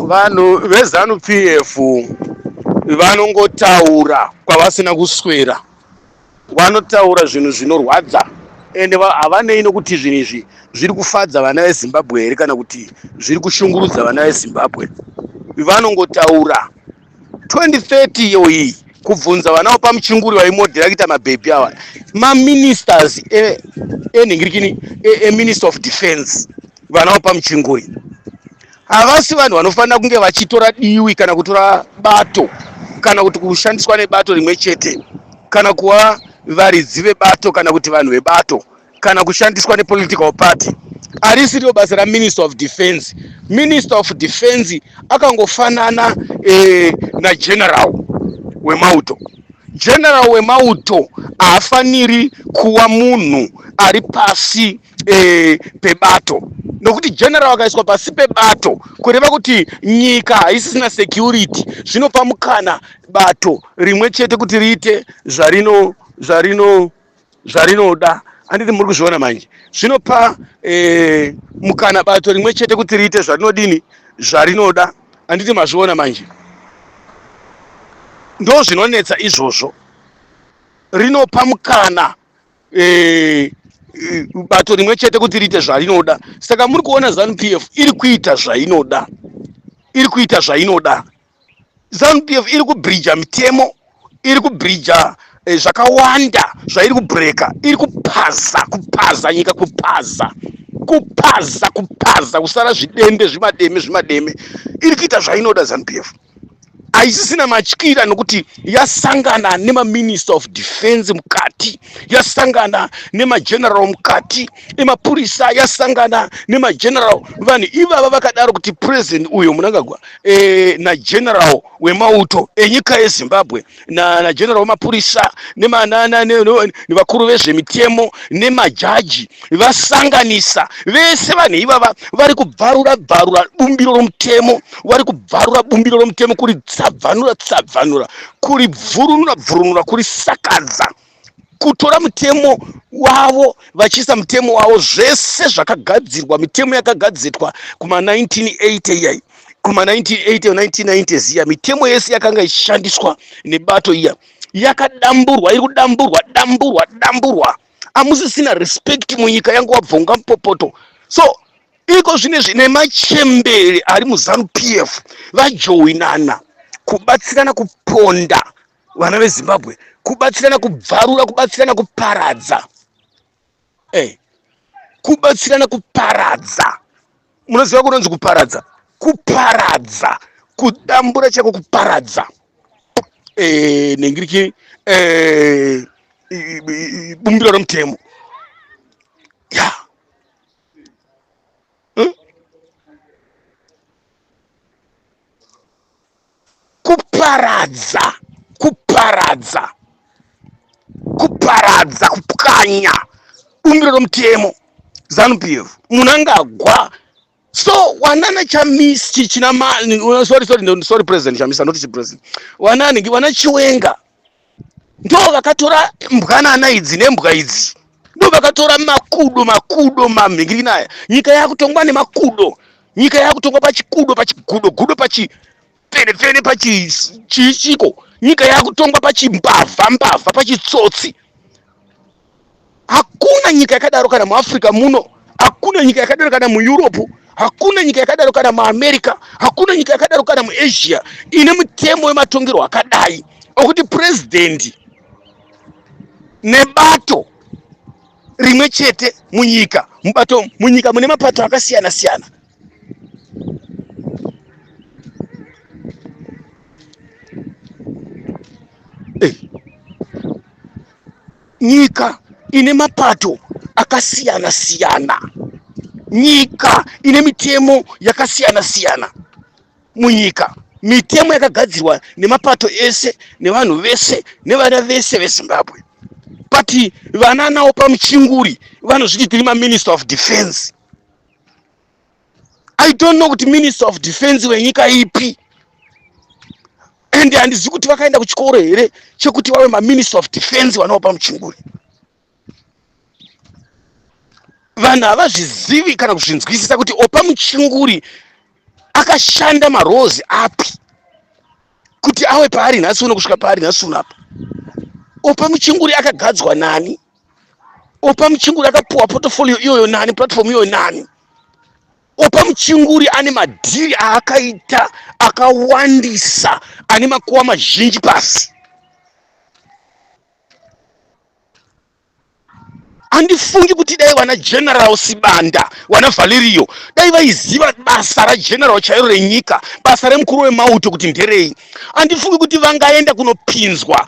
vanhu vezanu pf vanongotaura kwavasina kuswera vanotaura zvinhu zvinorwadza ende va- havanei nokuti zvinhu izvi zviri kufadza vana vezimbabwe here kana kuti zviri kushungurudza vana vezimbabwe vanongotaura 2030 iyo iyi kubvunza vana vapa muchinguri vaimodhera kuita mabhebhi awa maministers enhingirikini e, e, eminister of defense vana vapa muchinguri havasi vanhu vanofanira kunge vachitora diwi kana kutora bato kana kuti kushandiswa nebato rimwe chete kana kuva varidzi vebato kana kuti vanhu vebato kana kushandiswa nepolitical party arisiriwo basa raminister of defense minister of defense akangofanana eh, nageneral wemauto general wemauto haafaniri kuva munhu ari pasi eh, pebato nokuti general akaiswa pasi pebato kureva kuti nyika haisisina security zvinopa mukana bato rimwe chete kuti riite zvarino zvarino zvarinoda anditi muri kuzviona manje zvinopa eh, mukana bato rimwe chete kuti riite zvarinodini zvarinoda anditi mazviona manje ndo zvinonetsa izvozvo rinopa mukana eh, eh, bato rimwe chete kuti riite zvarinoda saka muri kuona zanupf iri kuita zvainoda iri kuita zvainoda zanupf iri kubridja mitemo iri kubridja eh, zvakawanda zvairi kubreka iri kupaza kupaza nyika kupaza kupaza kupaza kusara zvidembe zvimademe zvimademe iri kuita zvainoda zanupf haisisina matyira nokuti yasangana nemaminister of defense mukati yasangana nemageneral mukati emapurisa yasangana nemageneral vanhu ivava vakadaro kuti president uyo munangagwa e, eh, nageneral wemauto enyika yezimbabwe nageneral na wemapurisa nevakuru vezvemitemo nemajaji vasanganisa vese vanhu ivava vari kubvarura bvarura bumbiro romutemo vari kubvarura bumbiro romutemo kuri tsabvanura tsabvanura kuri bvurunura bvurunura kuri sakadza kutora mutemo wavo vachiisa mutemo wavo zvese zvakagadzirwa mitemo yakagadzirwa kuma 1980 iyai kuma 1980 1990 ziya mitemo yese yakanga ichishandiswa nebato iya yakadamburwa iri kudamburwa damburwa damburwa amusisina respect munyika yangu wabvonga mupopoto so iko zvine zvine machembere ari muzanu pf vajoinana kubatsirana kuponda vana vezimbabwe kubatsirana kubvarura kubatsirana kuparadza hey. Eh, kubatsirana kuparadza munoziva kunonzi kuparadza kuparadza kudambura chako kuparadza hey, eh, nengiriki hey, eh, bumbiro romutemo ya yeah. kuparadza kuparadza kuparadza kupwanya bumbiro romutemo zanupf munangagwa so wanana chamisi chichina sorry sorry sorry president chamisa not chipresident wanani wana chiwenga ndovakatora mbwanana idzi nembwa idzi ndovakatora makudo makudo mamhingirikini aya nyika yakutongwa nemakudo nyika yakutongwa pachikudo pachigudo gudo pachipfenepfene pachichiko nyika yakutongwa pachimbavha mbavha pachitsotsi hakuna nyika yakadaro kana muafrica muno hakuna nyika yakadaro kana mueurope hakuna nyika yakadaro kana muamerica hakuna nyika yakadaro kana muasia ine mutemo wematongerwo akadai okuti purezidendi nebato rimwe chete munyika mubato munyika mune mapato akasiyana siyana eh. nyika ine mapato akasiyana siyana nyika ine mitemo yakasiyana siyana munyika mitemo yakagadzirwa nemapato ese nevanhu vese nevana vese vezimbabwe but vana nawo pamuchinguri vanozviti tiri maminister of defense i don't know kuti minister of defense wenyika ipi and handizivi kuti vakaenda kuchikoro here chekuti vave maminister of defense vanopa muchinguri vanhu havazvizivi kana kuzvinzwisisa kuti opa muchinguri akashanda marozi api kuti awe paari nhasi uno kusvika paari nhasi uno apa opa muchinguri akagadzwa nani Opa Muchinguri akapuwa portfolio iyoyo nani, platform iyoyo nani? Opa Muchinguri ane madhiri aakaita akawandisa ane makuwa mazhinji pasi. handifungi kuti dai vana general sibanda vana valerio dai vaiziva basa rageneral chairo renyika basa remukuru wemauto kuti nderei handifungi kuti vangaenda kunopinzwa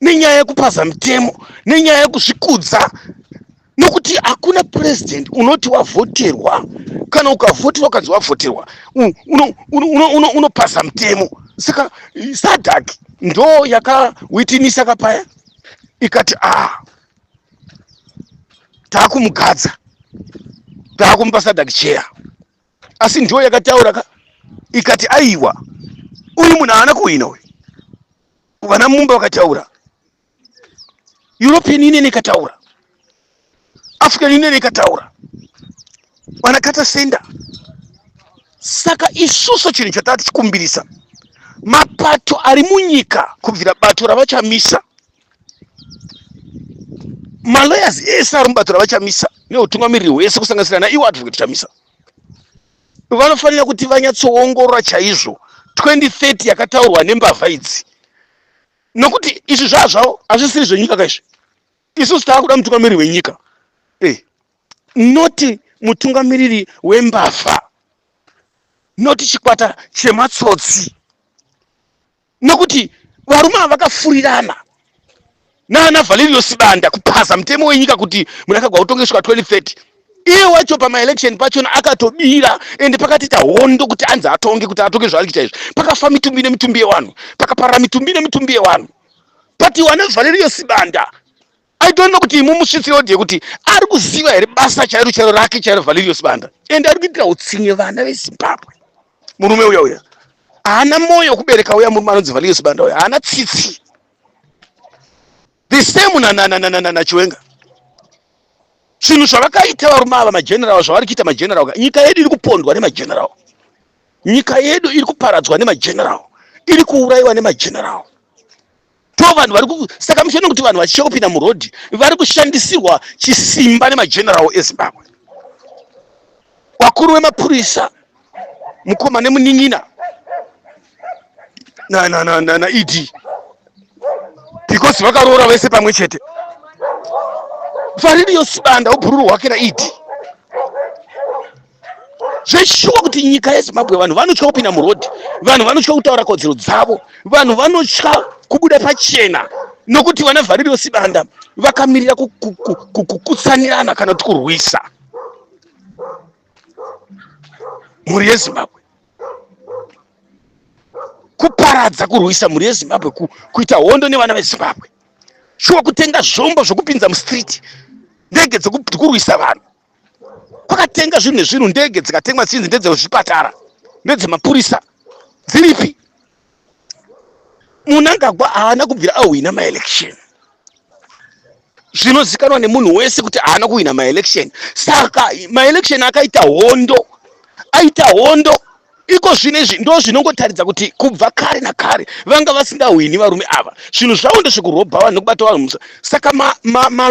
nenyaya yekupaza mitemo nenyaya yekuzvikudza nokuti hakuna president unoti wavhoterwa kana ukavhoterwa ukanzi wavhoterwa unopaza mitemo saka sadak ndo yakawitinisa kapaya ikati a ah, taakumugadza taakumupa sadak cheya asi ndiyo yakataura ka ikati aiwa uyu munhu haana kuhwina uyu vana mumba vakataura european union ikataura african union ikataura vana kata senda saka isusu chinhu chatava tichikumbirisa mapato ari munyika kubvira bato ravachamisa malawyers ese ari mubato ravachamisa neutungamiriri hwese kusanganisira naiwo advocate chamisa vanofanira kuti vanyatsoongorora chaizvo 2030 yakataurwa nembavha idzi nokuti izvi zvaa zvavo hazvisiri zvenyika ka izvi isusu tava kuda mutungamiriri wenyika e eh, noti mutungamiriri wembavha noti chikwata chematsotsi nekuti varume ava vakafurirana naana valerio sibanda kuphaza mutemo wenyika kuti munakagwa utonge svika 2030 iye wacho pamaelection pachona akatobira ende pakatiita hondo kuti anzi atonge kuti atonge zvaari kuita izvi pakafa mitumbi nemitumbi yewanhu pakaparira mitumbi nemitumbi yewanhu but wana valerio sibanda I don't know kuti mumusvitsi audio kuti ari kuziva here basa chairo chairo rake chairo Valerio Sibanda and ari kuitira utsinye vana veZimbabwe murume uya uya haana moyo kubereka uya murume anonzi Valerio Sibanda uya haana tsitsi the same na na na na na na na Chiwenga zvinhu zvavakaita varume ava mageneral zvavari kuita mageneral nyika yedu iri kupondwa nemageneral nyika yedu iri kuparadzwa nemageneral iri kuurayiwa nemageneral to vanhu vari saka muchiona kuti vanhu vachicha kupinda murodhi vari kushandisirwa chisimba nemagenerawo ezimbabwe wakuru wemapurisa mukoma nemunin'ina naed because vakaroora vese pamwe chete faririyo sibanda ubhururu hwake naed zveshuwa kuti nyika yezimbabwe vanhu vanotya kupinda murodhi vanhu vanotya kutaura kodzero dzavo vanhu vanotya kubuda pachena nokuti vana vhaririro sibanda vakamirira kukutsanirana kana kuti kurwisa mhuri yezimbabwe kuparadza kurwisa mhuri yezimbabwe kuita hondo nevana vezimbabwe shuwa kutenga zvombo zvokupinza mustriti ndege dzekurwisa vanhu kwakatenga zvinhu nezvinhu ndege dzikatengwa dzinzi ndedzezvipatara ndedzemapurisa dziripi munangagwa haana kubvira ahwina maelection zvinozikanwa nemunhu wese kuti haana kuhwina maelection saka maelection akaita hondo aita hondo iko zvino izvi ndo zvinongotaridza kuti kubva kare nakare vanga vasingahwini varume ava zvinhu zvavo ndezvekurobha vanhu nekubata vanhu musa saka maloyers ma, ma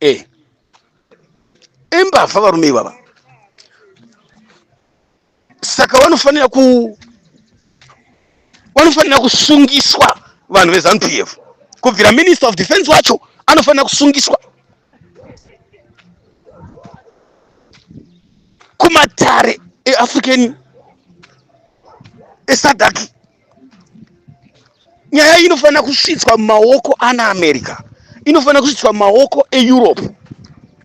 eh imbavha varume ivava saka vanofanira ku vanofanira kusungiswa vanhu veZanu PF kubvira minister of defense wacho anofanira kusungiswa kumatare eAfrican eSADC nyaya iyi inofanira kusvitswa mumaoko ana america inofanira kusvitswa mumaoko eeurope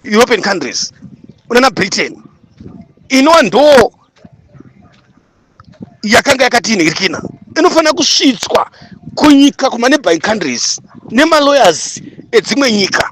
european countries unana britain inova ndoo yakanga yakatiinhirikina inofanira kusvitswa kunyika kumaneighboring countries nemalawyers edzimwe nyika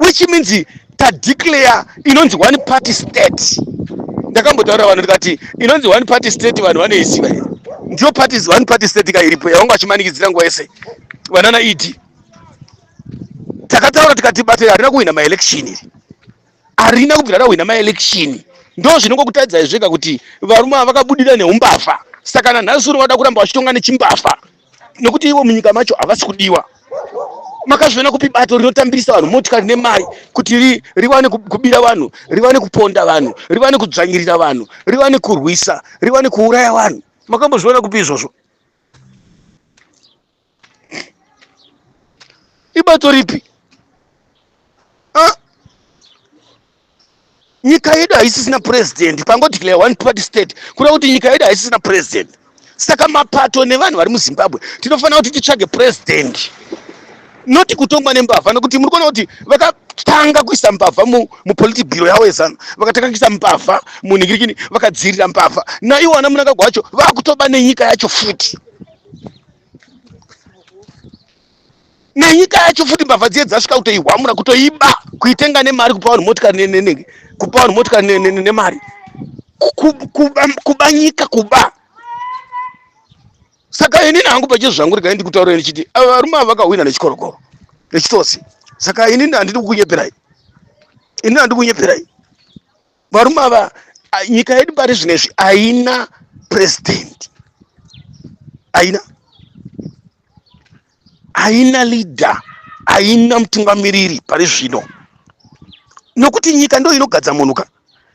which means tadeclare inonzi one party state ndakambotaura vanhu ndikati inonzi one party state vanhu vanoiziva here ndiyo party one party state ka iripo yavanga vachimanikidzira nguva yese vanana ed takataura tikati bato harina kuhwina maelection iri harina kubvira rahwina maelection ndo zvinongokutadzai zvega kuti varume ava vakabudira neumbavha saka nanhasi uno vada kuramba vachitonga nechimbavha nekuti ivo munyika macho havasi kudiwa makazviona kupi bato rinotambirisa vanhu motikari nemari kuti ri, riwane kubira vanhu riwane kuponda vanhu riwane kudzvanyirira vanhu riwane kurwisa riwane kuuraya vanhu makambozviona kupi izvozvo ibato ripi nyika yedu haisisina president pango declare one party state kureva kuti nyika yedu haisisina president saka mapato nevanhu vari muzimbabwe tinofanira kuti titsvage president noti kutongwa nembavha nekuti muri kuona kuti vakatanga kuisa mbavha mupoliti bhiro yavo yezanu vakatanga kuisa mbavha munhingirikini vakadzirira mbavha naiwo ana munangagwa wacho vakutoba nenyika yacho futi nenyika yacho futi mbavha dziye dzasvika kutoihwamura kutoiba kuitenga nemari kupa vanhu motikari nenenge kupa vanhu motikari nemari kuba nyika kuba saka inini hangu pachezvo zvangu regai ndikutaurira ndichiti ava varume ava vakahwina nechikorokoro nechitosi saka inini handidi kukunyeperai inini handidi kunyeperai varume ava nyika yedu pari zvino izvi haina president haina haina leader haina mutungamiriri pari zvino nokuti nyika ndo inogadza munhu ka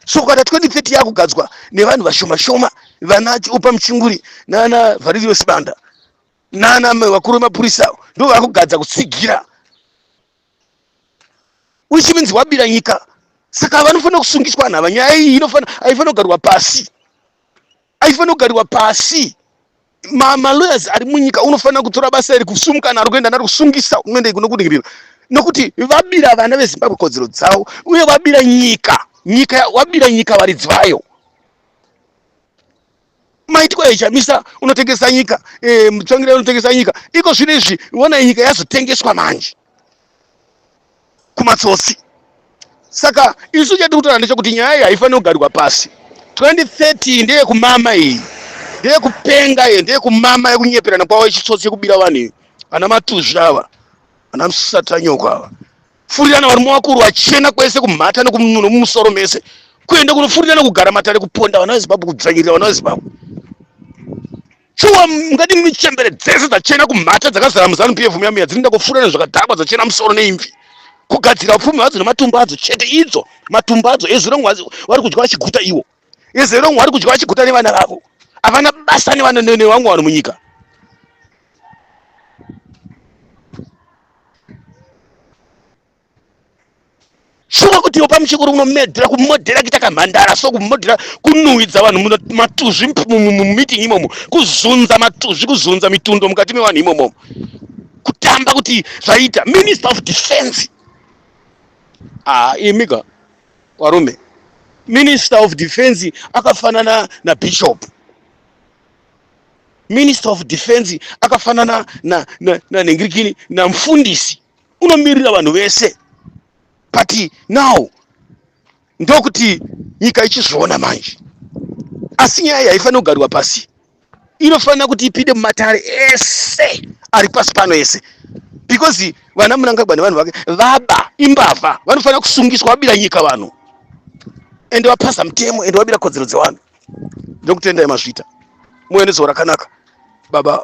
so kukata 2030 yakugadzwa nevanhu vashoma shoma vana upa muchinguri nana vharirio sibanda nana vakuru vemapurisa ndo vakugadza kutsigira which means wabira nyika saka vanofanira kusungiswa nhava nyaya iyi aifanira kugarwa pasi aifanira kugarwa pasi malawyers ari munyika unofanira kutora basa iri kusumuka naro kuenda naro kusungisa unoenda ikuno kuningirira nokuti vabira vana vezimbabwe kodzero dzavo uye vabira nyika nyika wabira nyika varidzi vayo maitiko ayo chamisa unotengesa nyika eh, mutsvangira unotengesa nyika iko zvino izvi wona nyika yazotengeswa manje kumatsotsi saka isu chati kutora ndechekuti nyaya iyi haifaniri kugarwa pasi 2030 ndeyekumama iyi ndeyekupenga iyo ndeyekumama yekunyeperana kwavo yechitsotsi yekubira vanhu iyo ana matuzvi ava ana musatanyoko ava furirana varume vakuru vachena kwese kumhata nekumunhuno mumusoro mese kuenda kunofurirana kugara matare kuponda vana vezimbabwe kudzvanyirira vana vezimbabwe shuwa mungati mune chembere dzese dzachena kumhata dzakazara muzanu pf muya muya dzinoenda kufurirana zvakadhakwa dzachena musoro neimvi kugadzira upfumi hadzo nematumbu adzo chete idzo matumbu adzo ezuro vari kudya vachiguta iwo izero mwari kudya vachiguta nevana vavo havana basa nevana nevangu vanhu munyika shuwa kuti yopa muchikuru unomedhera kumodhera kuita kamhandara so kumodhera kunuhwidza vanhu matuzvi mumiting imomo kuzunza matuzvi kuzunza mitundo mukati mevanhu imomo kutamba kuti zvaita minister of defense ah, imika Kwarume. Minister of Defense akafanana na Bishop. Minister of Defense akafanana na na, na nengirikini na mfundisi. Unomirira vanhu vese. But now ndokuti nyika ichizviona manje. Asi nyaya haifanira kugarwa pasi. inofanira kuti ipinde mumatare ese ari pasi pano ese because vana munangagwa nevanhu vake vaba imbavha vanofanira kusungiswa vabira nyika vanhu ende vapasa mutemo ende vabira kodzero dzevanhu ndokutendai mazvita muwe nezuva rakanaka baba